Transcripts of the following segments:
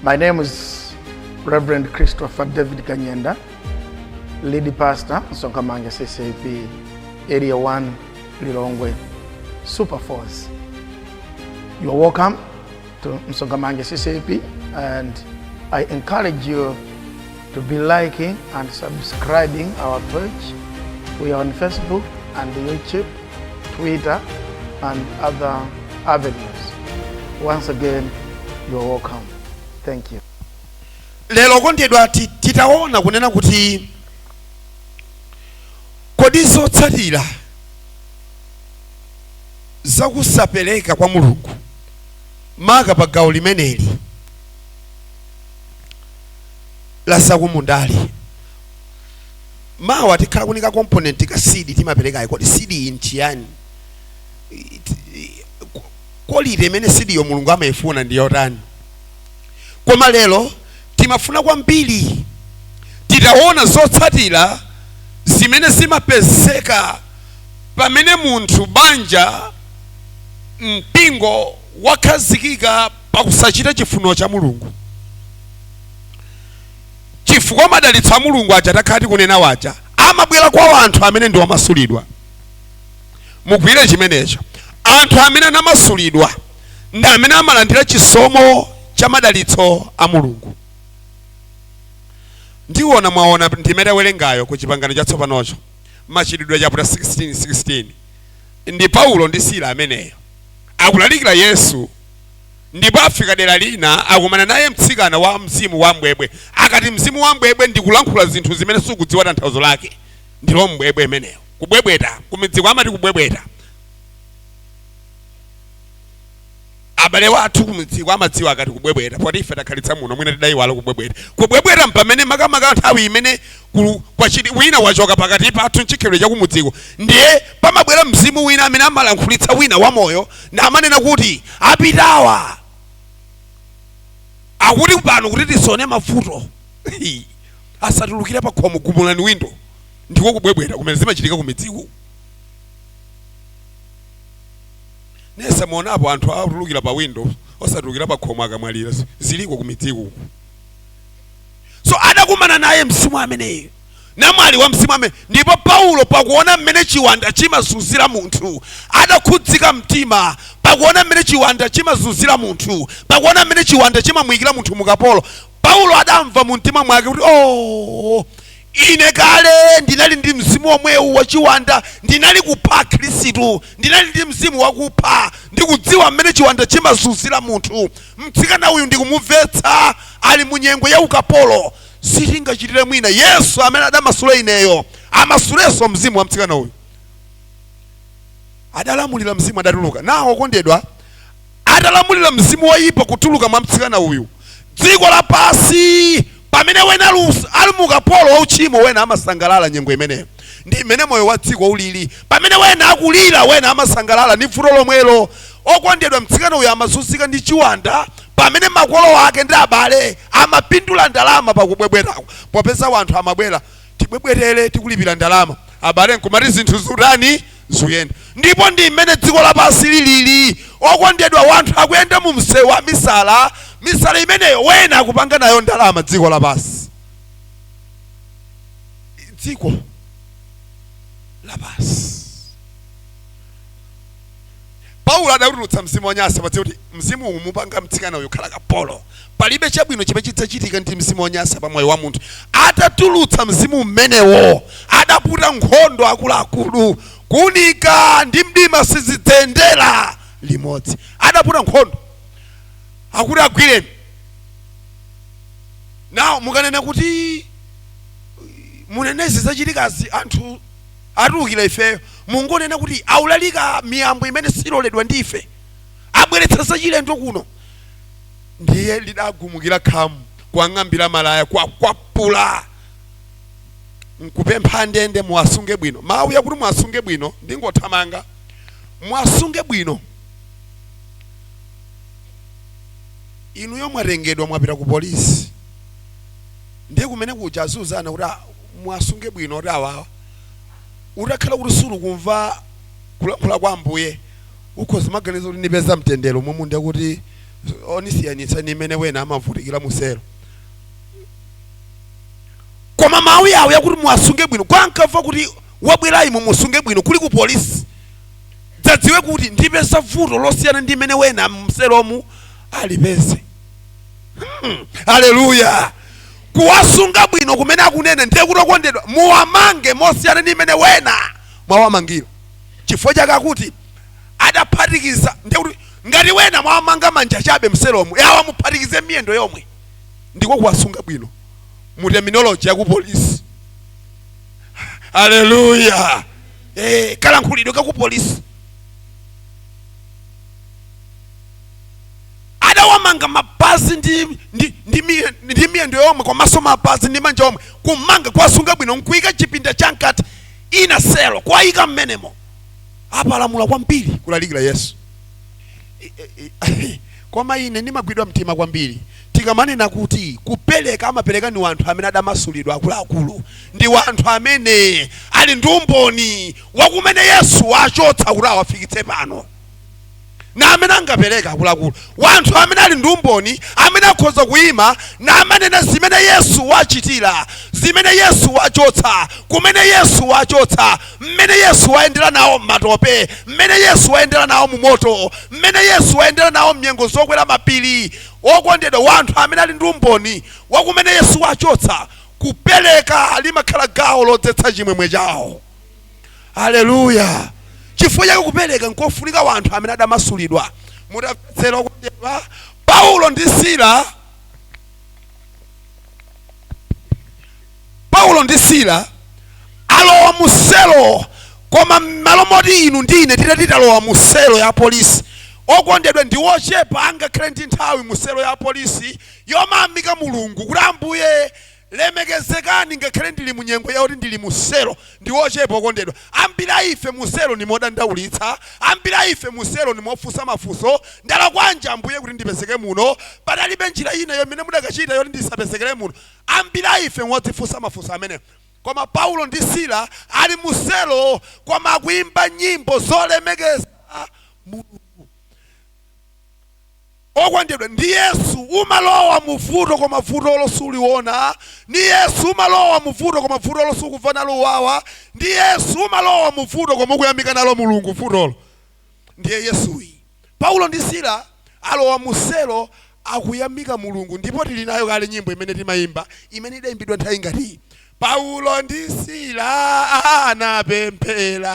My name is Reverend Christopher David Kanyenda, lead pastor, Sonkamanga CCP, Area 1, Lilongwe, Super Force. You are welcome to Msongamanga CCP and I encourage you to be liking and subscribing our page. We are on Facebook and YouTube, Twitter, and other avenues. Once again, you are welcome. Thank you. lero kondedwa ti- titaona kunena kuti kodi zotsatira zakusapereka kwa mulungu maka pa gawo limeneli la zakumundali. Mawa tikhala kunika component ka seed timaperekayi kodi seed iyi nchiyani? It- i- ko- quality imene seed yo Mulungu amaifuna ndi yotani? Koma lero timafuna kwambiri titaona zotsatira zimene zimapezeka pamene munthu banja mpingo wakhazikika pa kusachita chifuniro cha Mulungu. Chifukwa madalitso a Mulungu aja takhala tikunena aja amabwera kwa anthu amene ndi omasulidwa. Mugwire chimenecho. Anthu amene anamasulidwa ndi amene amalandira chisomo cha madalitso a Mulungu. Ndiona mwaona ndime tawerengayo ku chipangano chatsopanocho machitidwe chapter 16 ndi Paulo ndi Sila ameneyo akulalikira Yesu ndipo afika dera lina akumana naye mtsikana wa mzimu wa mbwebwe akati mzimu wa mbwebwe ndikulankhula zinthu zimene sukudziwa tanthauzo lake ndilo mbwebwe imeneyo kubwebweta kumidziko amati kubwebweta abale wathu kumidziko amadziwa akati kubwebweta poti ife takhalitsa muno mwina tidayiwala kubwebweta kubwebweta mpamene makamaka nthawi imene gulu kwachiti wina wachoka pakati pathu nchikhalidwe chakumudziko ndiye pamabwera mzimu wina amene amalankhulitsa wina wamoyo namanena kuti apitawa akuti pano kuti tisaone mavuto asatulukire pa khomo gumulani windo ndiko kubwebweta kumene zimachitika kumidziku simunaonapo anthu atulukira pa windo osatulukira pa khomo akamwalira ziliko kumidziku so adakumana naye mzimu ameneyu namwali wa mzimu amene ndipo paulo pakuona mmene chiwanda chimazunzira munthu adakhudzika mtima pakuona mmene chiwanda chimazunzira munthu pakuona mmene chiwanda chimamuyikira munthu mukapolo paulo adamva mu mtima mwake kuti oh Ine kale ndinali ndi mzimu womwewu wachiwanda, ndinali kupha Akhristu, ndinali ndi mzimu wakupha. Ndikudziwa mmene chiwanda chimazunzira munthu. Mtsikana uyu ndikumumvetsa, ali mu nyengo ya ukapolo. Sitingachitire mwina. Yesu amene adamasula ineyo, amasulenso mzimu wa mtsikana uyu. Adalamulira mzimu, adatuluka. Now, okondedwa. atalamulira mzimu woyipa kutuluka mwa mtsikana uyu, dziko lapansi pamene wena ali us- ali mu ukapolo wa uchimo wena amasangalala nyengo imeneyo ndi imene moyo wa dziko ulili pamene wena akulira wena amasangalala ndi vuto lomwelo okondedwa mtsikana uyu amazunzika ndi chiwanda pamene makolo ake ndi abale amapindula ndalama pakubwebwetako popeza wanthu amabwera tibwebwetere tikulipira ndalama abale nkumati zinthu zutani zuyenda ndipo ndi mmene dziko lapansi lilili okondedwa wanthu akuyenda mu msewu wa misala misala imeneyo wena akupanga nayo ndalama dziko lapansi dziko lapansi paulo adatulutsa mzimu wonyansa padziwa kuti mzimu uwu mupanga mtsikana uyu khala kapolo palibe chabwino chimene chidzachitika ndi mzimu wonyansa pa moyo wa munthu atatulutsa mzimu umenewo adaputa nkhondo akuluakulu kuunika ndi mdima sizidzayendera limodzi adaputa nkhondo akuti agwireni awo mukanena kuti munenezi zachitikazi anthu Atiukire ifeyo? Mungonena kuti aulalika miyambo imene siloledwa ndi ife, abweretsa zachilendo kuno. Ndiye lidagumukira khamu, kuwang'ambira malaya, kuwakwapula, nkupempha andende, Muwasunge bwino. Mawuwa akuti muwasunge bwino ndingothamanga. Muwasunge bwino. Inuyo mwatengedwa mwapita kupolisi, ndiye kumene kuja aziuzana kuti. muwasunge bwino oti awawa utakhala kuti sulukumva kulankhula kwa ambuye ukhoza kumaganiza kuti ndipeza mtendere omwe mwina akuti onisiyanitsa ndi mmene wena amavutikira muselo koma mawu yawo yakuti muwasunge bwino kwa ankamva kuti wabwerayi mumusunge bwino kuli ku polisi dzadziwe kuti ndipeza vuto losiyana ndi limene wena mselomu alipeze Hmm, haleluya kuwasunga bwino kumene akunena ndiye kuti okondedwa muwamange mosiyana ndi mmene wena mwawamangira chifukwa chake akuti adaphatikiza ndiye kuti ngati wena mwawamanga manja chabe mselomo awa muphatikize miyendo yomwe ndiko kuwasunga bwino mu terminology yakupolisi haleluya eh, kalankhulidwe kakupolisi adawamanga mapazi ndi, ndi, ndi, miye- ndi miyendo yomwe komanso mapazi ndi manja omwe kumanga kuwasunga bwino nkuika chipinda chamkati inner cell kuwayika mmenemo apalamula kwambiri kulalikira yesu I- i- i- koma ine ndimagwidwa mtima kwambiri tikamanena kuti kupereka amapereka ni wanthu amene adamasulidwa akuluakulu ndi wanthu amene ali ndi umboni wakumene yesu wawachotsa kuti awafikitse pano na amene angapereka akuluakulu wanthu amene ali ndi umboni amene akhoza kuyima namanena zimene yesu wachitira zimene yesu wachotsa kumene yesu wachotsa mmene yesu wayendera nawo m'matope mmene yesu wayendera nawo mu moto mmene yesu wayendera nawo mnyengo zokwera mapiri wokondedwa wanthu amene ali ndi umboni wakumene yesu wachotsa kupereka limakhala gawo lodzetsa chimwemwe chawo haleluya chifukwa chake kupereka nkofunika wanthu amene adamasulidwa mutayetsera okondedwa paulo ndi sila paulo ndi sila alowa muselo koma mmalo moti inu ndi ine titati tilowa muselo ya polisi okondedwa ndi ochepa angakhale ndi nthawi muselo ya polisi yomayamika mulungu kuti ambuye Lemekezekani ngakhale ndili mu nyengo yakuti ndili mu selo ndi ochepa okondedwa. Ambiri a ife mu selo ndi modandaulitsa. Ambiri a ife mu selo ndi mofunsa mafunso. Ndalakwanji Ambuye kuti ndipezeke muno? Panalibe njira ina yoyimene mudakachita yoti ndisapezekere muno? Ambiri a ife ngodzifunsa mafunso amenewa. Koma Paulo ndi Sila ali mu selo koma akuimba nyimbo zolemekeza Mulungu. Okondedwa ndi Yesu umalowa muvuto koma vutolo suliona, ndi Yesu umalowa muvuto koma vutolo sukumva nalo uwawa, ndi Yesu umalowa muvuto koma ukuyamika nalo Mulungu vutolo. Ndiye Yesuyi. Paulo ndi Sila alowa muselo akuyamika Mulungu ndipo tili nayo kale nyimbo imene timayimba imene idayimbidwa nthawi ngati iyi. Paulo ndi Sila anapemphera.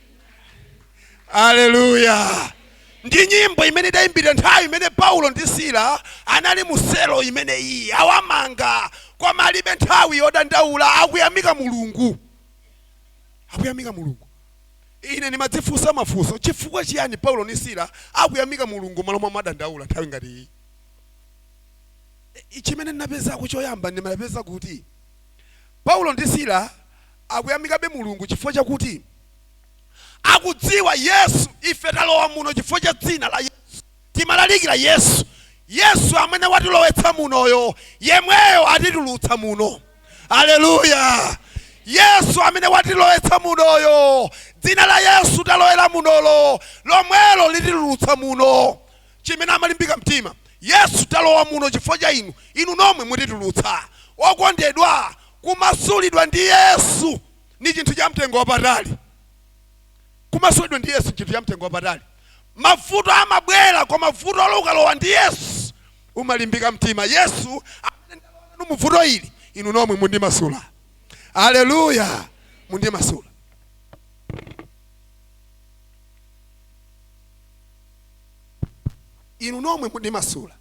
aleluya ndi nyimbo imene idayimbidwa nthawi imene paulo ndi sila anali mu selo imene iyi awamanga koma alibe nthawi yodandaula akuyamika mulungu akuyamika mulungu ine ndimadzifunsa mafunso chifukwa chiyani paulo ndi sila akuyamika mulungu malo momadandaula nthawi ngati iyi I- chimene ndinapezako choyamba ndimapeza kuti Paulo ndi Sila akuyamikabe Mulungu chifukwa chakuti akudziwa Yesu. Ife talowa muno chifukwa cha dzina la Yesu. Timalalikira Yesu. Yesu amene watilowetsa munoyo, yemweyo atitulutsa muno. Aleluya! Yesu amene watilowetsa munoyo, dzina la Yesu talowera munolo, lomwelo lititulutsa muno. chimene amalimbika mtima. Yesu, talowa muno chifukwa cha inu, inu nomwe mutitulutsa. Okondedwa, kumasulidwa ndi Yesu ni chinthu cha mtengo wapatali. Kumasulidwa ndi Yesu ni chinthu cha mtengo wapatali. Mavuto amabwera, koma vutolo ukalowa ndi Yesu, umalimbika mtima. Yesu, amene ndalowa nanu mu vuto ili, inu nomwe mundimasula. Aleluya! Mundimasula. inu nomwe mundimasula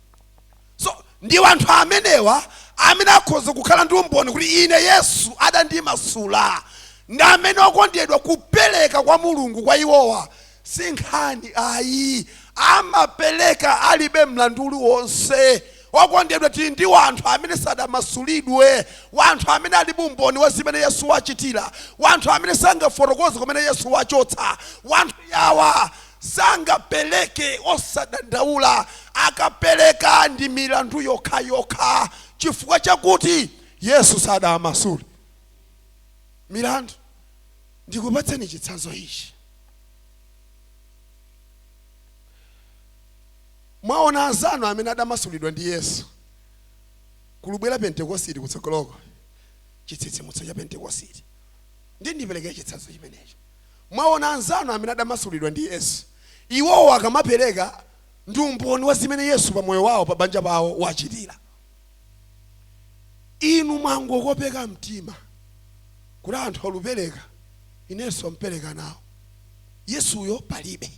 so ndi wanthu amenewa amene akhoza kukhala ndi umboni kuti ine yesu adandimasula ndi amene okondedwa kupereka kwa mulungu kwa iwowa si nkhani ayi amapereka alibe mlandu uliwonse okondedwa tili ndi wanthu amene sadamasulidwe wanthu amene alibe umboni wa zimene yesu wachitira wanthu amene sangafotokoze kumene yesu wachotsa wanthu yawa Sangapereke osadandaula, akapereka ndi milandu yokhayokha chifukwa chakuti Yesu sadawamasule milandu. Ndikupatseni chitsanzo ichi. Mwaona anzanu amene adamasulidwa ndi Yesu? Kukubwera Pentekositi kutsogoloko, chitsitsimutso cha Pentekositi. Ndiye ndipereke chitsanzo chimenecho. Mwaona, anzanu amene adamasulidwa ndi Yesu, iwowo akamapereka ndi umboni wa zimene Yesu pa moyo wawo, pa banja pawo wachitira, inu mwangokopeka mtima kuti anthu alupereka, inenso mpereka nawo. Yesuyo palibe.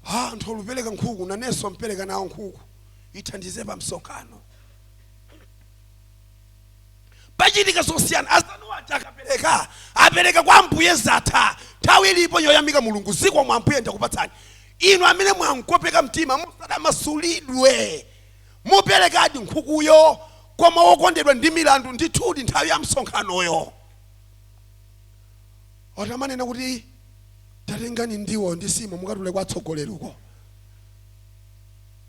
Ha, anthu alupereka nkhuku, nanenso mpereka nawo nkhuku, ithandize pa msonkhano. pachitika zosiyana azanu aja akapereka apereka kwa ambuye zatha nthawi ilipo yoyamika mulungu zikomo ambuye ndakupatsani inu amene mwangokopeka mtima musadamasulidwe muperekadi nkhukuyo koma wokondedwa ndi milandu ndithudi nthawi ya msonkhanoyo otamanena kuti tatengani ndiwo ndi nsima mukatule kwa atsogoleri uko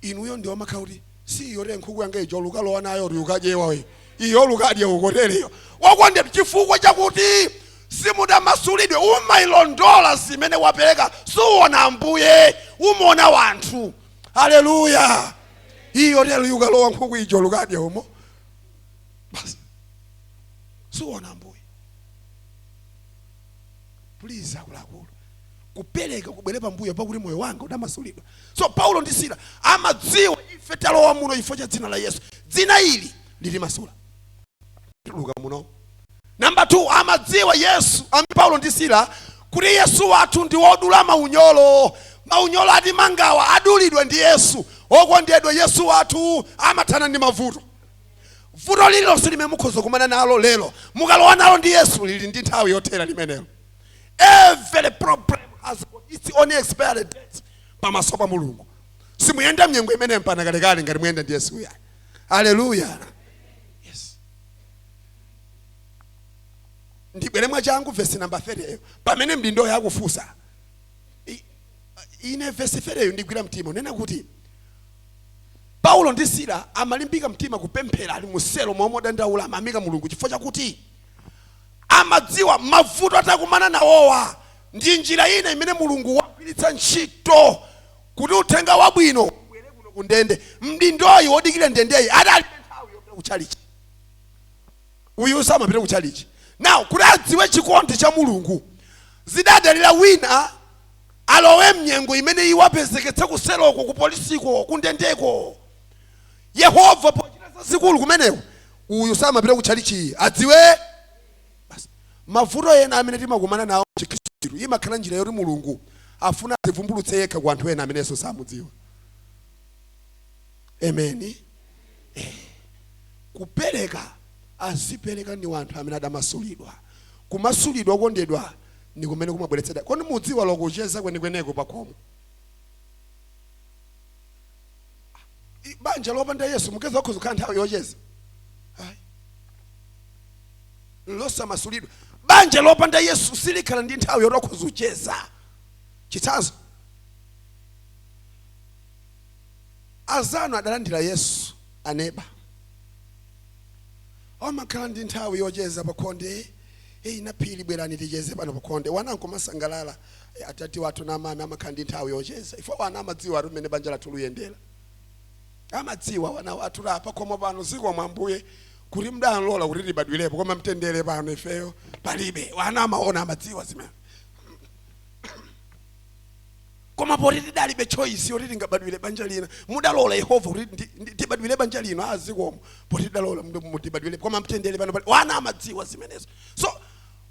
inuyo ndiye mumakhala kuti si iyo te nkhuku yanga ija ulukalowa nayo kuti ukadyewa we iyo ulukadye ukotereyo wakondedwa chifukwa chakuti simudamasulidwe umailondola zimene wapereka suwona ambuye umaona wanthu haleluya iyo tero yukalowa nkhuku ija ulukadye umo basi suwona ambuye please akuluakulu kupereka kubwere pambuyo pakuti moyo wanga udamasulidwa so paulo ndi sila amadziwa ife talowa muno chifukwa cha dzina la yesu dzina ili litimasula tituluka muno namba 2 amadziwa yesu amene paulo ndi sila kuti yesu wathu ndi wodula maunyolo maunyolo atimangawa adulidwa ndi yesu okondedwa yesu wathu amathana ndi mavuto Vuto lililonse limene mukhoza kukumana nalo lero, mukalowa nalo ndi Yesu, lili ndi nthawi yothera limenelo. Every problem has got its own expiry date pamaso pa Mulungu. Simuyenda mnyengo imene mpaka kalekale ngati muyenda ndi Yesu uyu. Hallelujah. Yes. Ndibwere mwachangu verse number 30 eyo. Pamene mdindoyi akufunsa. I- Ine verse 30 eyo indigwira mtima. Nena kuti Paulo ndi Sila amalimbika mtima kupemphera ali mu selo mmalo modandaula, amayamika Mulungu chifukwa chakuti amadziwa mavuto atakumana nawowa ndi njira ina imene Mulungu wagwiritsa ntchito kuti uthenga wabwino ubwere kuno ku ndende. Mdindoyi wodikira ndendeyi adalibe nthawi yopita ku chalichi, uyu samapita ku chalichi. Nawo kuti adziwe chikondi cha Mulungu zidadalira wina alowe mnyengo imene iwo apezeke kuseloko kupolisiko kundendeko yehova pochita zazikulu kumeneko uyu samapita ku tchalichi ayi adziwe basi mavuto ena amene timakumana nawo chikhristu imakhala njira yoti mulungu afuna azivumbulutse yekha ku anthu ena amene yesu samamudziwa Amen. Eh. Kupereka azipereka ndi wanthu amene adamasulidwa. Kumasulidwa okondedwa ndi kumene kumabweretsa da. Kodi mudziwa lokucheza kwenikweneko pa khomo? I- Banja lopanda Yesu mukuyesa akhoza kukhala nthawi yocheza. Ayi. Losamasulidwa. Banja lopanda Yesu silikhala ndi nthawi yoti akhoza kucheza. Chitsanzo. azanu adalandira yesu aneba amakhala ndi nthawi yocheza pakhonde eyi naphiri bwerani ticheze pano pakhonde wana nkumasangalala Eh, atati wathu na amami amakhala ndi nthawi yocheza ife wana amadziwatu mmene banja lathu luyendera amadziwa wana wathu a pakhomo pano zikomo ambuye kuti mudalola kuti tibadwirepo koma mtendere pano ifeyo palibe wana amaona amadziwa zimene Koma poti tidalibe choice yoti tingabadwire banja lina, mudalola Yehova kuti ndi- ndi- tibadwire banja lino. Ah, zikomo poti tidalola mbe- mu- tibadwire, koma mtendere pano palibe ana amadziwa zimenezo. So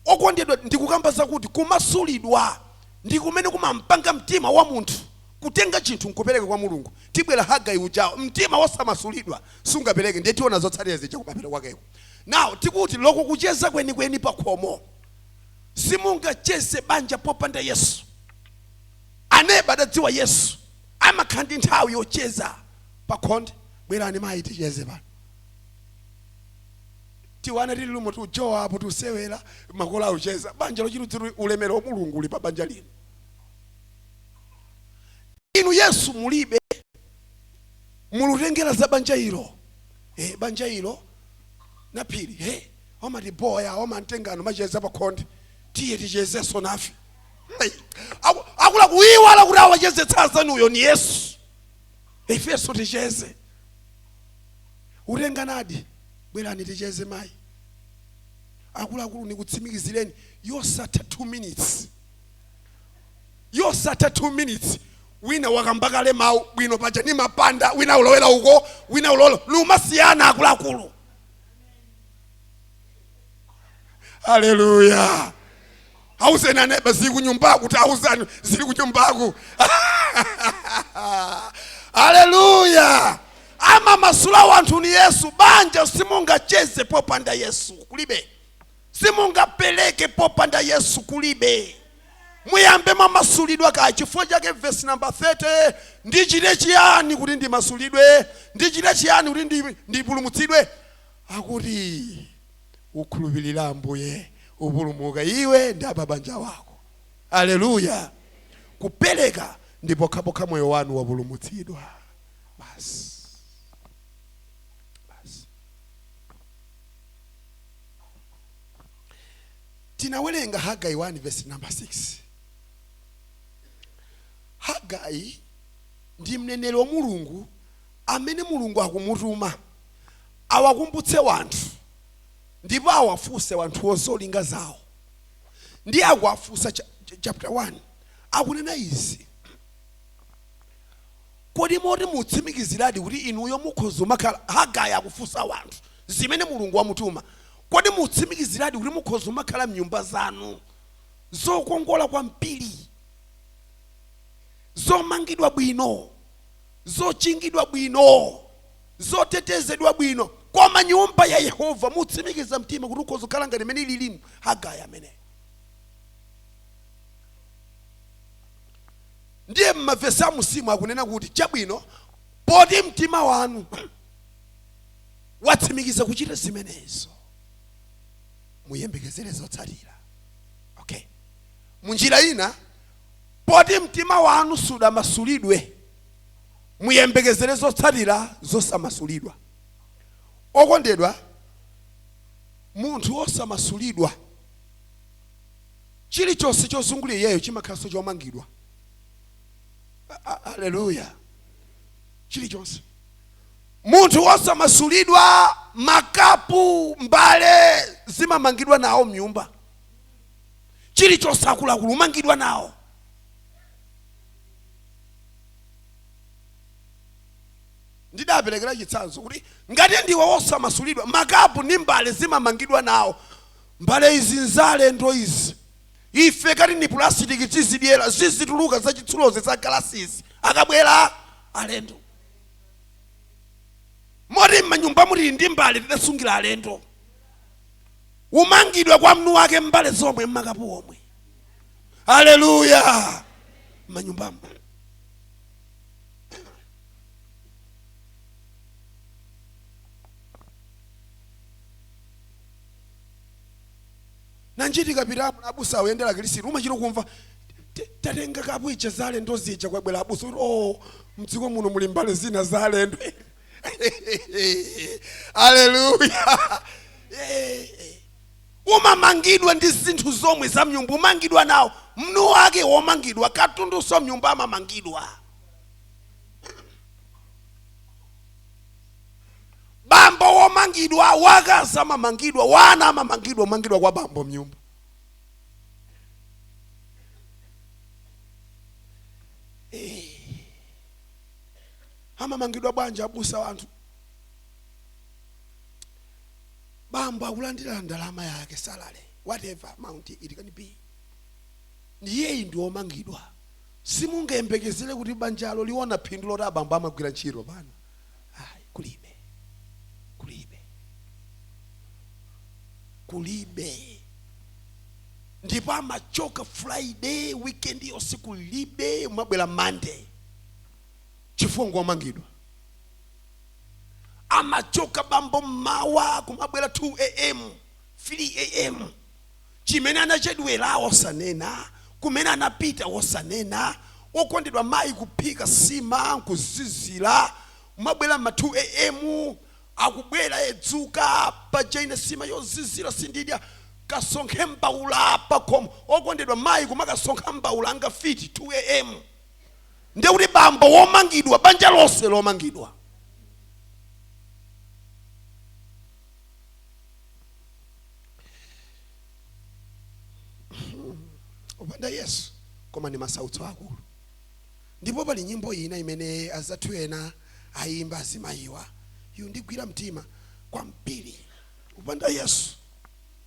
okondedwa, ndikukamba zakuti kumasulidwa ndi kumene kumampanga mtima wa munthu kutenga chinthu nkupereka kwa mulungu tibwera kwa hagai ujawo mtima wosamasulidwa sungapereke ndiye tiona zotsatira zija kumapeto kwakeko nawo tikuti loko kucheza kwenikweni pakhomo simungacheze banja popanda yesu aneba adadziwa yesu amakhala ndi nthawi yocheza pakhonde bwerani mayi ticheze pano tiwana tili lumo tujowa apo tiseewera makolo akucheza banja lochititsa ulemero wa mulungu uli pa banja lino inu yesu mulibe mulutengera za banja ilo eh, banja ilo naphiri he omatiboya omangotengana macheza pakhonde tiye tichezenso nafe Ai, aku- akulakuiwala kuti awachezetsa anzanuwo ni yesu ifenso ticheze utenganadi bwerani ticheze mayi akuluakulu nikutsimikizireni zosatha 2 minutes zosatha 2 minutes wina wakamba kale mawu bwino paja ni mapanda wina ulowera uko wina ulowera numasiyana akuluakulu haleluya auzeni aneba zili kunyumbaku taauzani zili kunyumbaku aleluya amamasula wanthu ni yesu banja simungacheze popanda yesu kulibe simungapereke popanda yesu kulibe muyambe mwamasulidwa kaye chifukwa chake vesi namba 30 ndichite chiyani kuti ndimasulidwe ndichite chiyani kuti ndi- ndipulumutsidwe akuti Ukhulupirire Ambuye, upulumuka, iwe ndi a pa banja wako. Aleluya! Kupereka ndi pokhapokha moyo wanu wapulumutsidwa. Basi. Basi. Tinawerenga Hagai 1 verse number 6. Hagai ndi mneneri wa Mulungu amene Mulungu akumutuma awakumbutse wanthu ndipo awafuse wanthuwo zolinga zawo ndiye akuwafusa cha- cha- chapter 1 akunena izi kodi moti mwatsimikiziradi kuti inuyo mukhoza umakhala hagai akufusa wanthu zimene mulungu wamutuma kodi mwatsimikiziradi kuti mukhoza umakhala mnyumba zanu zokongola kwambiri zomangidwa bwino zochingidwa bwino zotetezedwa bwino koma nyumba ya yehova mwatsimikiza mtima kuti ukhoza kukhala ngati imene ililimo hagaya ameneyo ndiye mavesi am'munsimu akunena kuti chabwino poti mtima wanu watsimikiza kuchita zimenezo muyembekezere zotsatira okay munjira ina poti mtima wanu sudamasulidwe Muyembekezere zotsatira zosamasulidwa. Okondedwa, munthu wosamasulidwa, chilichonse chozungulira iyeyo chimakhalanso chomangidwa. Aleluya! Chilichonse. Munthu wosamasulidwa, makapu, mbale, zimamangidwa nawo mnyumba. Chilichonse, akuluakulu, chimamangidwa nawo. ndidaperekera chitsanzo kuti ngati ndiwe wosamasulidwa makapu ndi mbale zimamangidwa nawo mbale izi nzalendo izi ife kathu ndi pulasitiki tizidyera zizituluka zachitsulozi za galasizi akabwera alendo moti m'manyumba mutili ndi mbale tidasungira alendo umangidwa kwa mwini wake mbale zomwe makapu omwe haleluya manyumbamo mumachitika pitapo abusa oyendera kilisiti umachita kumva "T- tatenga kapu zija za alendo zija kwabwera abusa kuti o mdziko muno muli mbale zina zalendo aleluya umamangidwa ndi zinthu zomwe za mnyumba zimamangidwa nawo mwini wake womangidwa katundunso mnyumba amamangidwa bambo womangidwa wakazi amamangidwa wana amamangidwa umangidwa kwa bambo mnyumba amamangidwa bwanji abusa a anthu bambo akulandira ndalama yake salary whatever amount it can be iyeyo ndi omangidwa simungayembekezere kuti banjalo liona phindu loti abambo amagwira ntchito pano ayi kulibe kulibe kulibe ndipo amachoka friday weekend yonse kulibe amabwera monday chifukwa ngomangidwa amachoka bambo mmawa kumabwera 2 am 3 am chimene anachedwera osanena kumene anapita osanena okondedwa mayi kuphika sima nkuzizira kumabwera ma 2 am akubwera dzuka paja ine sima yozizira sindidya kasonkhe mbaula pakhomo okondedwa mayi kumakasonkha mbaula ngati mfiti 2 am ndiye kuti bambo womangidwa banja lonse lomangidwa opanda yesu koma ndi masautso akulu ndipo pali nyimbo ina imene azathu ena ayimba azimayiwa yondigwira mtima kwambiri wopanda yesu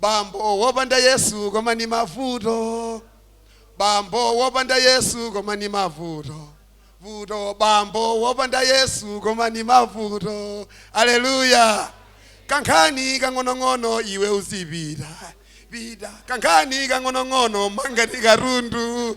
bambo wopanda yesu koma ni mavuto bambo wopanda yesu koma ni mavuto vuto bambo wopanda yesu koma ni mavuto aleluya kankhani kang'onong'ono iwe uzipita pita kankhani kang'onong'ono mangani katundu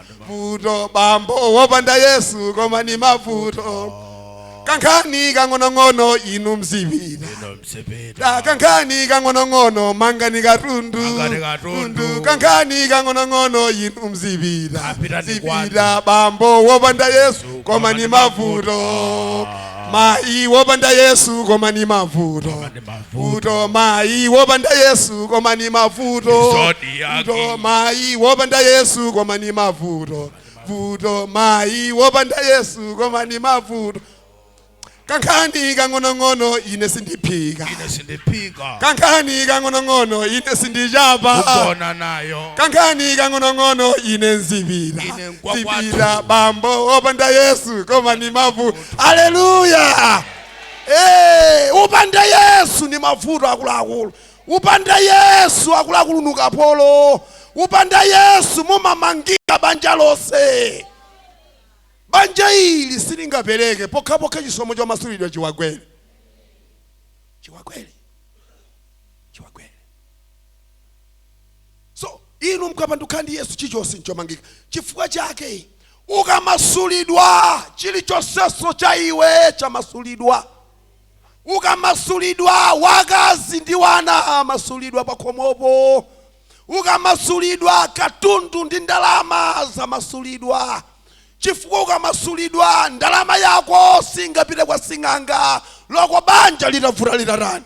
vuto bambo wopanda yesu koma ni mavuto kankhani kang'onong'ono inu mzipita inu mzipita kankhani kang'onong'ono mangani katundu mangani katundu tundu kankhani kang'onong'ono inu mzipita pitani kwanu zipita bambo wopanda yesu koma ni mavuto mayi wopanda yesu koma ni mavuto mavuto mayi wopanda yesu koma ni mavuto vuto mayi wopanda yesu koma ni mavuto vuto mayi wopanda yesu koma ni mavuto kankhani kang'onong'ono ine sindiphika ine sindiphika kankhani kang'onong'ono ine sindichapa kugona nayo kankhani kang'onong'ono ine nzipita ine nkwa kwathu zipita bambo wopanda yesu koma ni mavuto aleluya Eee upanda yesu ndi mavuto akuluakulu upanda yesu akuluakulu ndi ukapolo upanda yesu mumamangika banja lonse banja ili silingapereke pokhapokha chisomo chamasulidwa chiwagwere chiwagwere So inu mkapanduka ndi Yesu chilichonse nchomangika. Chifukwa chake ukamasulidwa chilichonsenso cha iwe chamasulidwa. Ukamasulidwa wakazi ndi wana amasulidwa pakhomopo. Ukamasulidwa katundu ndi ndalama zamasulidwa. Chifukwa ukamasulidwa ndalama yako singapite kwa sing'anga loko banja litavuta litatani.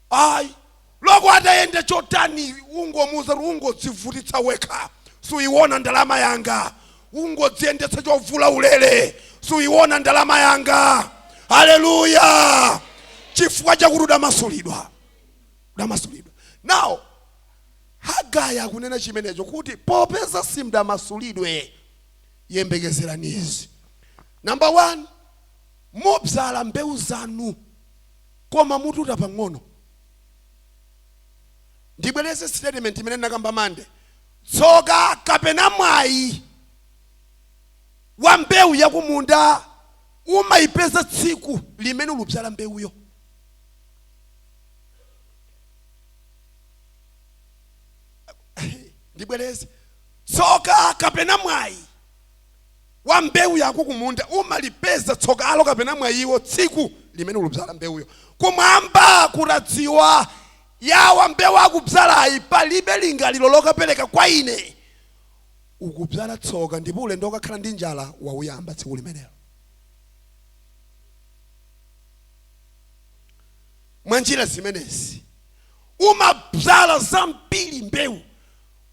ayi loko atayenda chotani ungomuuza kuti ungodzivutitsa wekha suyiwona ndalama yanga ungodziyendetsa chovula ulere suyiwona ndalama yanga haleluya chifukwa chakuti udamasulidwa udamasulidwa nawo hagayi akunena chimenecho kuti popeza simdamasulidwe yembekezerani izi namba 1 mubzala mbewu zanu koma mututa pang'ono. Ndibwereze statement imene ndinakamba Monday, tsoka kapena mwayi wa mbewu ya kumunda umayipeza tsiku limene ulubzala mbewuyo. Ndibwereze, tsoka kapena mwayi. wa mbewu yako kumunda umalipeza tsokalo kapena mwayiwo tsiku limene ulubzala mbewuyo kumwamba kutadziwa yawa mbewu akubzalayi palibe lingaliro lokapereka kwa ine ukubzala tsoka ndipo ulendo ukakhala ndi njala wauyamba tsiku limenelo mwa njira zimenezi umabzala zambiri mbewu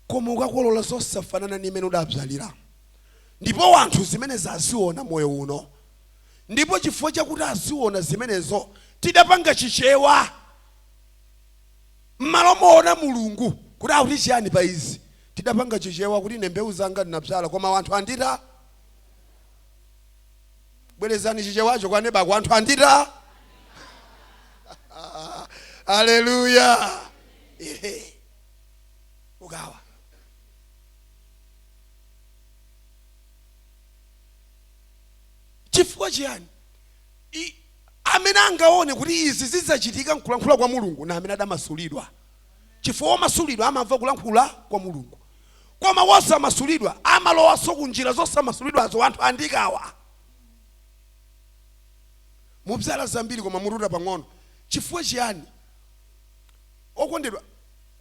koma ukakolola zosafanana ndi imene udabzaliramo Ndipo wanthu zimenezi aziona moyo uno ndipo chifukwa chakuti aziona zimenezo tidapanga Chichewa mmalo moona Mulungu kuti akuti chiyani pa izi. Tidapanga Chichewa kuti ine mbewu zanga ndinabzala koma wanthu andita. Bwerezani Chichewacho kwa neba wako, wanthu andita. Aleluya! Ehe. Ukawa. chifukwa chiyani I- amene angaone kuti izi zidzachitika nkulankhula kwa mulungu na amene adamasulidwa chifukwa womasulidwa amamva kulankhula kwa mulungu koma wosamasulidwa amalowanso ku njira zosamasulidwazo anthu andikawa mubzala zambiri koma mututa pang'ono chifukwa chiyani okondedwa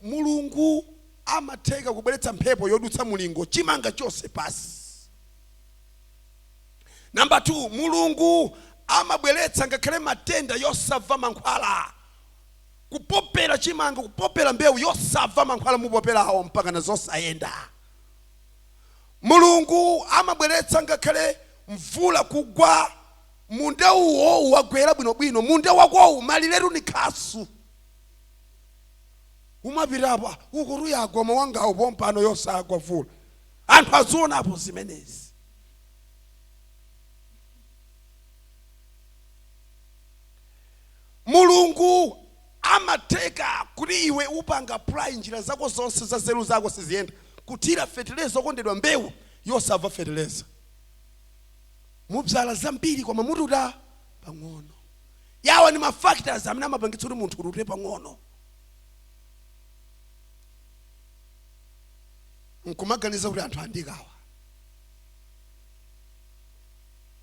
Mulungu amatheka kubweretsa mphepo yodutsa mulingo chimanga chonse pansi. Number 2, Mulungu amabweretsa ngakhale matenda yosamva mankhwala kupopela chimanga kupopela mbewu yosamva mankhwala mupopelawo mpakana zosayenda. Mulungu amabweretsa ngakhale mvula kugwa munda uwo wagwera bwinobwino munda wakowu maliretu ni khasu. umapita apa akuti yagwa mawangawo pompano yosagwa mvula anthu azionapo zimenezi mulungu ngotheka kuti iwe upanga apply njira zako zonse za nzeru zako siziyenda kuthira feteleza okondedwa mbewu yosamva feteleza mubzala zambiri koma mututa pang'ono awa ndi ma factors amene amapangitsa kuti munthu utute pang'ono nkumaganiza kuti anthu andikawa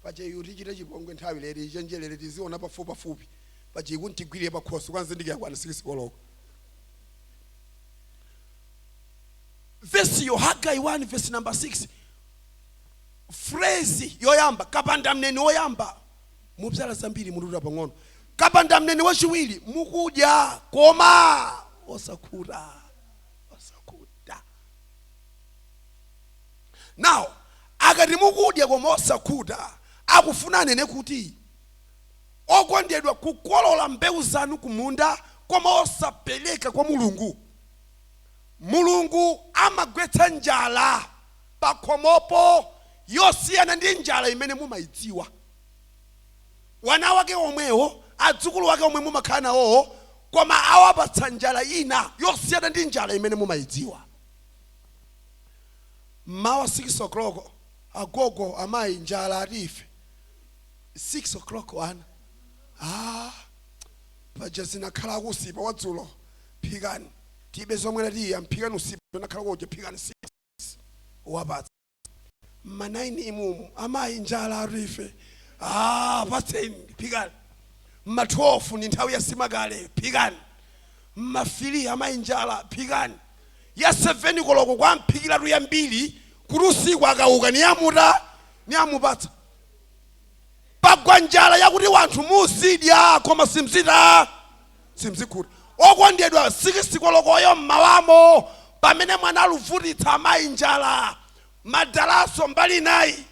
pacheyu tichite chipongwe nthawi late ichenjerere tiziona pafupi pafupi pache ikuntigwirire pakhosi kuzindikira kwana sikisi koloko vesiyo hagai 1 vesi number 6 frezi yoyamba kapanda mneni woyamba mubzala zambiri mututa pang'ono kapandamneni wachiwiri mukudya koma osakhuta osakhuta now akati mukudya koma osakhuta akufuna anene kuti okondedwa kukolola mbewu zanu kumunda koma osapereka kwa mulungu mulungu amagwetsa njala pakhomopo yosiyana ndi njala imene mumaidziwa. Wana wake omwewo, adzukulu wake omwe mumakhala nawowo koma awapatsa njala ina yosiyana ndi njala imene mumaidziwa. Mmawa 6:00, Agogo, amayi, njala atu ife. 6:00 ana, Aaa! Paja unakhalako usipa wadzulo, phikani, tibe zomwela tiyi, yamu phikani usipa unakhalako uja, phikani 6:00. madzi uwapatse mma 9 umumu amayi njala atu ife ah, patseni phikani mma 12 ndi nthawi ya nsima kale phikani mma 3 amayi njala phikani ya 7 koloko kumphikiratu yambiri kuti usiku akauka niyamuta niyamupatsa pagwa njala yakuti wanthu muzidya koma simzita simzikhuta okondedwa 6 kolokoyo mmawamo pamene mwana akuvutitsa amayi njala madalaso mbali nayi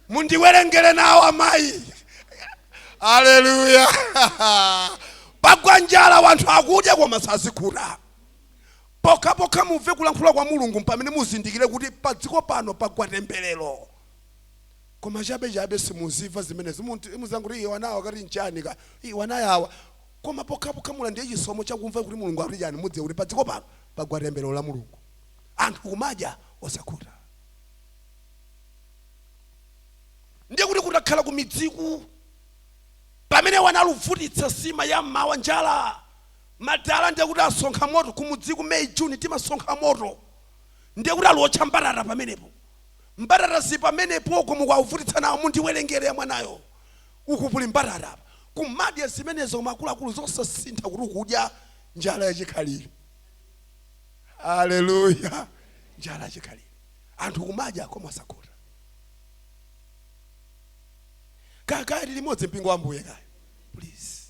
mundiwerengere nawo amayi aleluya pagwa njala wanthu akudya koma sazikhuta pokhapokha mumve kulankhula kwa mulungu mpamene muzindikire kuti padziko pano pagwa temberero koma chabe chabe simudziwa zimenezi Munt- mudziwa kuti iye wanawa kati nchani ka iye wanayawa koma pokhapokha mula ndiye chisomo chakumva kuti mulungu akuti chani mudziwe kuti padziko pano pagwa tembelero la mulungu anthu kumadya osakhuta ndiye kuti kutakhala kumidziku pamene wana akuvutitsa nsima ya mmawa njala madala ndiye kuti asonkha moto kumudziku may june timasonkha moto ndiye kuti akuwotcha mbatata pamenepo Mbatata zili pamenepo uko mukuwavutitsa nawo mundiwelengele ya mwanayo uku kuli mbatata apa kumadya zimenezo koma akuluakulu zosasintha kuti kudya njala yachikhalile hallelujah njala yachikhalile anthu kumadya koma osakhuta kaya kaya tili limodzi mpingo wa ambuye kaya please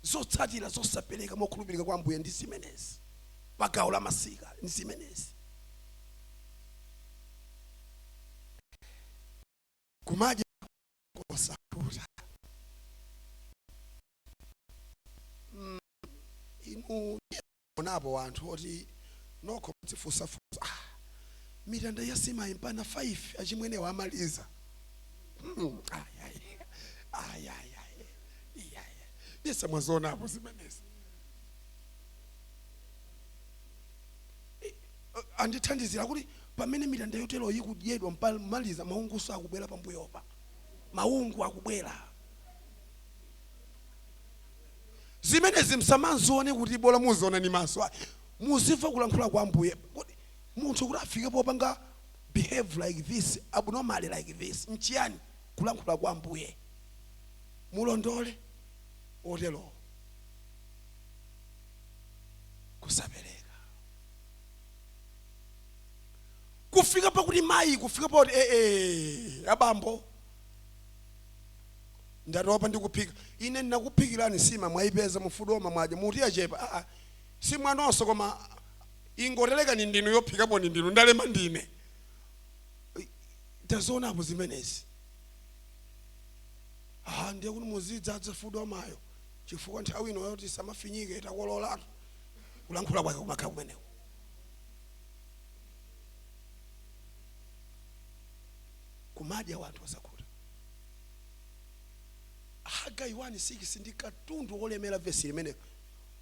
zotsatira zosapereka mokhulupirika kwa ambuye ndi zimenezi pagawo la masika ndi zimenezi kumadya kosakhuta mm, inu munaonapo wanthu oti nokho mudzifunsafunsa ah, mitanda ya nsima mpaka 5 achimwene wamaliza mm, yesa mwazionapo zimenezi eh, andithandizira kuti pamene mitanda yoteroyi ikudyedwa mpa- maliza maungunso akubwera pambuyopa maungu akubwera zimenezi musamazione kuti bola muziona ndi maso ayi muzimva kulankhula kwa ambuye kodi munthu kuti afike popanga behave like this abnormally like this nchiyani kulankhula kwa ambuye mulondole oterowo kusapereka kufika pakuti mayi kufika pakuti ee abambo ndatopa ndikuphika ine ndinakuphikirani nsima mwayipeza mufuduoma mwadya muti yachepa aa simwanonso koma ingotelekani ndinu yophikapo ni ndinu ndalema ndine tazionapo zimenezi ah ndiye kuti muzidzadza fuduwomayo chifukwa nthawi ino yoti nsima ifinyike itakololatu kulankhula kwake kumakhala kumeneko kumadya wanthu osakhuta hagai 1:6 ndi katundu wolemera vesi limenelo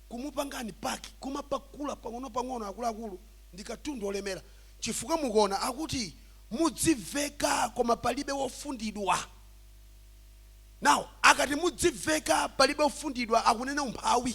kumupanga unpack kumapakula pang'onopang'ono akuluakulu ndi katundu wolemera chifukwa mukuona akuti mudziveka koma palibe wofundidwa now akati mudziveka palibe wofundidwa akunena umphawi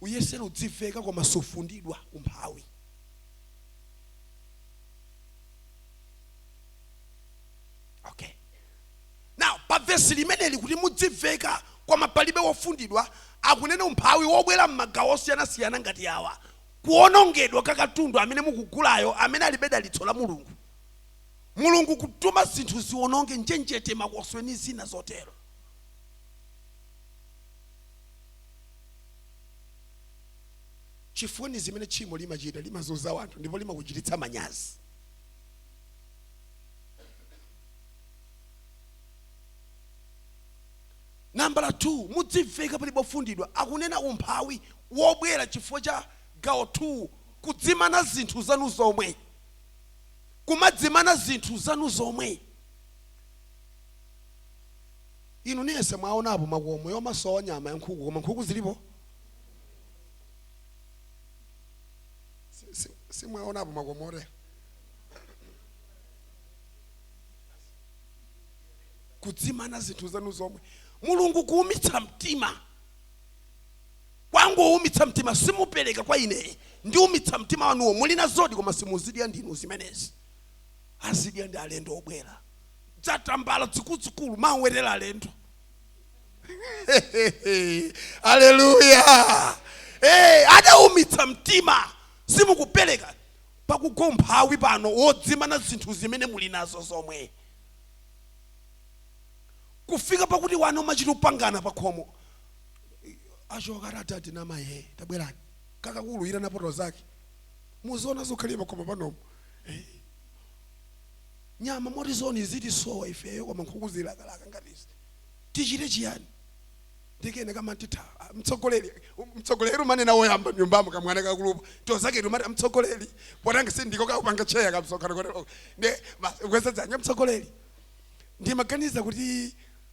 Uyesera udziveka koma sufundidwa umphawi okay now pa vesi limeneli kuti mudziveka koma palibe wofundidwa akunena umphawi wobwera m'magawo osiyanasiyana ngati awa kuonongedwa kwa katundu amene mukugulayo amene alibe dalitso la mulungu mulungu kutuma zinthu ziononge njenjete makoswe ni zina zotero chifukwa ndi zimene tchimo limachita limazunza wanthu ndipo limakuchititsa manyazi nambala 2 mudziveka palibe wofundidwa akunena umphawi wobwera chifukwa cha gawo 2 kudzimana zinthu zanu zomwe kumadzimana zinthu zanu zomwe Inu niense mwaonapo makomo omasowa nyama ya nkhuku koma nkhuku zilipo? Si- si- Simwaonapo makomo otere? Kudzimana zinthu zanu zomwe. Mulungu kuumitsa mtima kwangoumitsa mtima simupereka kwa ine ndiumitsa mtima wanuwo muli nazodi koma simudzidya ndinu zimenezi azidya ndi alendo obwera dzatambala dzikuludzikulu mumawetera alendo aleluya hey, adaumitsa mtima simukupereka pakugwa umphawi pano wodzimana zinthu zimene muli nazo zomwe kufika pakuti wana amachita kupangana pakhomo achoka atati ndi amaye tabwerani kakakulu kuitana tizake muziona zokhalira pakhomo panomo nyama motizoni izitisowa ifeyo koma nkhuku zilakalaka ngati izi tichite chiyani nde kena kamati ah, mtsogoleri mtsogoleri amanena woyamba m'nyumbamo kamwana kakuluko tinzake timati mtsogoleri potanga si ndiko kakupanga cheya kamsokhano koteroka nde basi kukweza dzanja mtsogoleri ndimaganiza kuti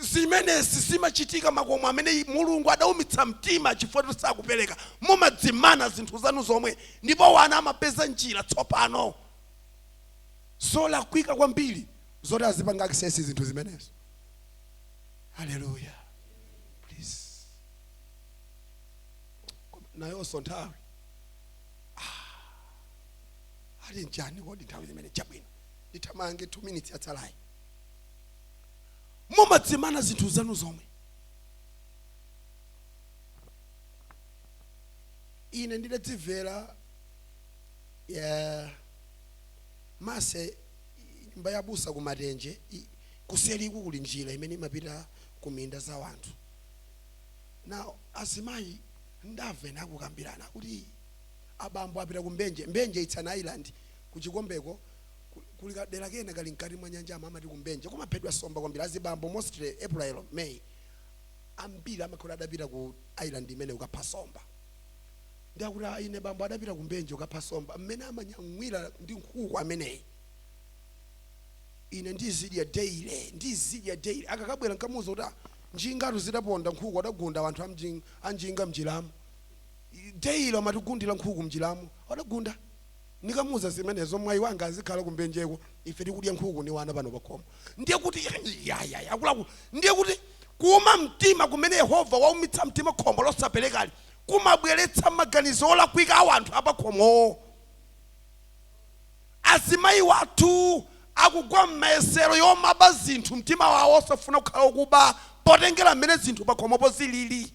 Zimenezi zimachitika m'makomo amene Mulungu adaumitsa mtima chifukwa choti sakupereka. Mumadzimana zinthu zanu zomwe ndipo wana amapeza njira tsopano zolakwika kwambiri zoti azipanga access zinthu zimenezo. Hallelujah. Please. Koma Nayonso nthawi. Ah. Ali ndani kodi nthawi zimene chabwino. Ndithamange 2 minutes yatsalayi. mumadzimana zinthu zanu zomwe ine ndidadzimvera ndamva se nyumba ya abusa ku Matenje i- kuseriku kuli njira imene imapita ku minda za wanthu na azimayi ndamva akukambirana kuti abambo apita ku Mbenje Mbenje it's an island ku Chikombeko Ku- kuli kadera kena kali mkati mwa nyanja ama amati ku Mbenje kumaphedwa somba kwambiri azibambo mostly April May ambiri amakhala adapita ku island imene ukapha somba ndakuti "Ah, ine bambo adapita ku Mbenje ukapha somba mmene amanyamwira ndi nkhuku ameneyi ine ndizidya daily ndizidya daily akakabwera nkamuuza kuti "Ah, njingatu zidaponda nkhuku adagunda wanthu amjing- anjinga mnjiramo daily amatigundira nkhuku mnjiramo adagunda Ndikamuuza zimenezo mwai wanga azikhala ku Mbenjeko ife tikudya nkhuku ndi wana pano pakhomo. Ndiye kuti yayaya akuluakulu ndiye kuti kuuma mtima kumene Yehova waumitsa mtima khomo losaperekali kumabweretsa maganizo olakwika a wanthu apakhomowo. Azimayi wathu akugwa m'mayesero yomaba zinthu mtima wawo osafuna kukhala okuba potengera m'mene zinthu pakhomopo zilili.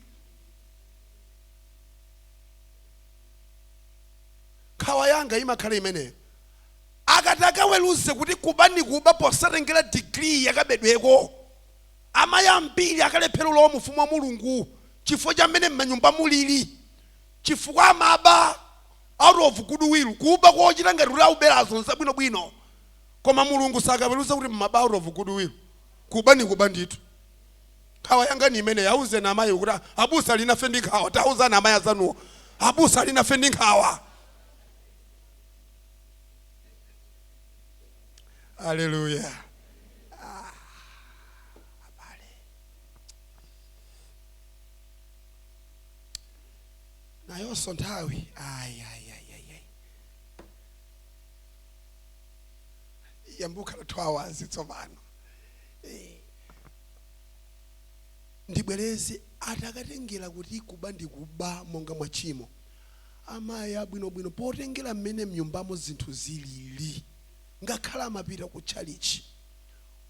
nkhawa yanga imakhala imeneyo akati akaweruze kuti kuba ndi kuba posatengera degree yakabedweko amayi ambiri akalephera ulowa mu ufumu wa mulungu chifukwa cha mmene mmanyumba mulili chifukwa amaba out of good will kuba kochita ngati kuti auberazo nzabwinobwino koma mulungu sakaweruza kuti mmaba out of good will kuba ndi kuba ndithu Nkhawa yanga ni imeneyi. Auzeni amayiwo kuti, Abusa ali nafe ndi nkhawa. Tauzani amayi azanuwo, Abusa ali nafe ndi nkhawa. Aleluya! Ah, abale, nayonso nthawi ayi ayi ayi ayi ayi yambukhala 2 hours tsopano Eh. ndibwereze atakatengera kuti kuba ndi kuba monga mwa tchimo amayi abwinobwino potengera mmene mnyumbamo zinthu zilili ngakhale amapita ku tchalitchi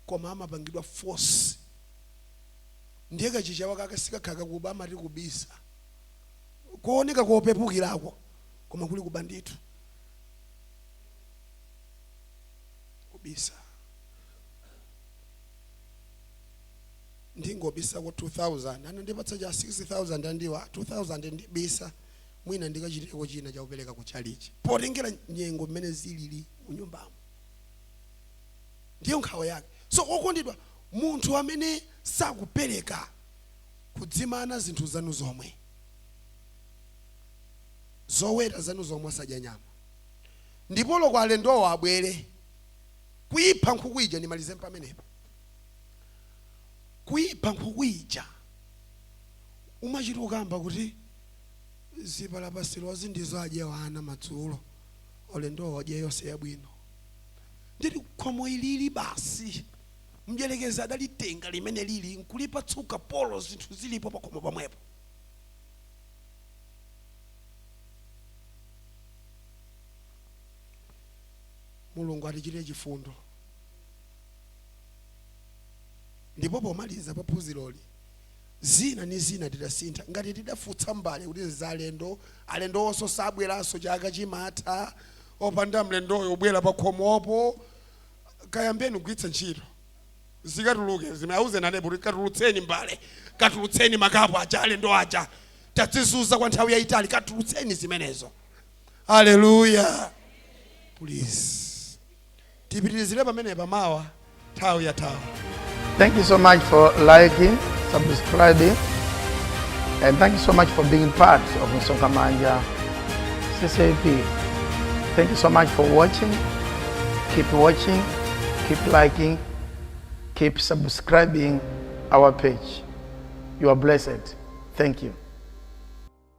koma amapangidwa force ndiye kachichewa kake sikakhala kakuba amati kubisa kooneka kopepukirako koma kuli kuba ndithu kubisa ndingobisako 2000 anandipatsa cha 6000 andiuza 2000 ndibisa mwina ndikachiteko china chakupereka ku chalichi potengera nyengo mmene zilili mu nyumbamo ndiyo nkhawa yake so okondedwa munthu amene sakupereka kudzimana zinthu zanu zomwe zoweta zanu zomwe asadya nyama mpaka alendowo abwere kuyipha nkhuku ija ndimalize pamenepo kuyipha nkhuku ija umachita kukamba kuti zipalapasirozi ndizo adyewa ana madzulo alendowo adye yonse yabwino ndiye khomo ilili basi mdyerekezi adalitenga limene lili nkulipatsuka pomwe zinthu zilipo pakhomo pomwepo mulungu atichitire chifundo ndipo pomaliza pa phunziroli zina ni zina tidasintha ngati tidafutsa mbale kuti nza alendo alendowonso sabweranso chaka chimatha opanda mlendoyo kubwera pa khomopo kayambeni kugwiritsa ntchito zikatuluke zimene auzane nanepo kuti katulutseni mbale katulutseni makapu aja alendo aja tadzizuza kwa nthawi yayitali katulutseni zimenezo aleluya please tipitirizire pamenepa mawa nthawi ya thawi Thank you so much for liking, subscribing, and thank you so much for being part of Msonga Manja CCAP. Thank you so much for watching. Keep watching, keep liking, keep subscribing our page. You are blessed. Thank you.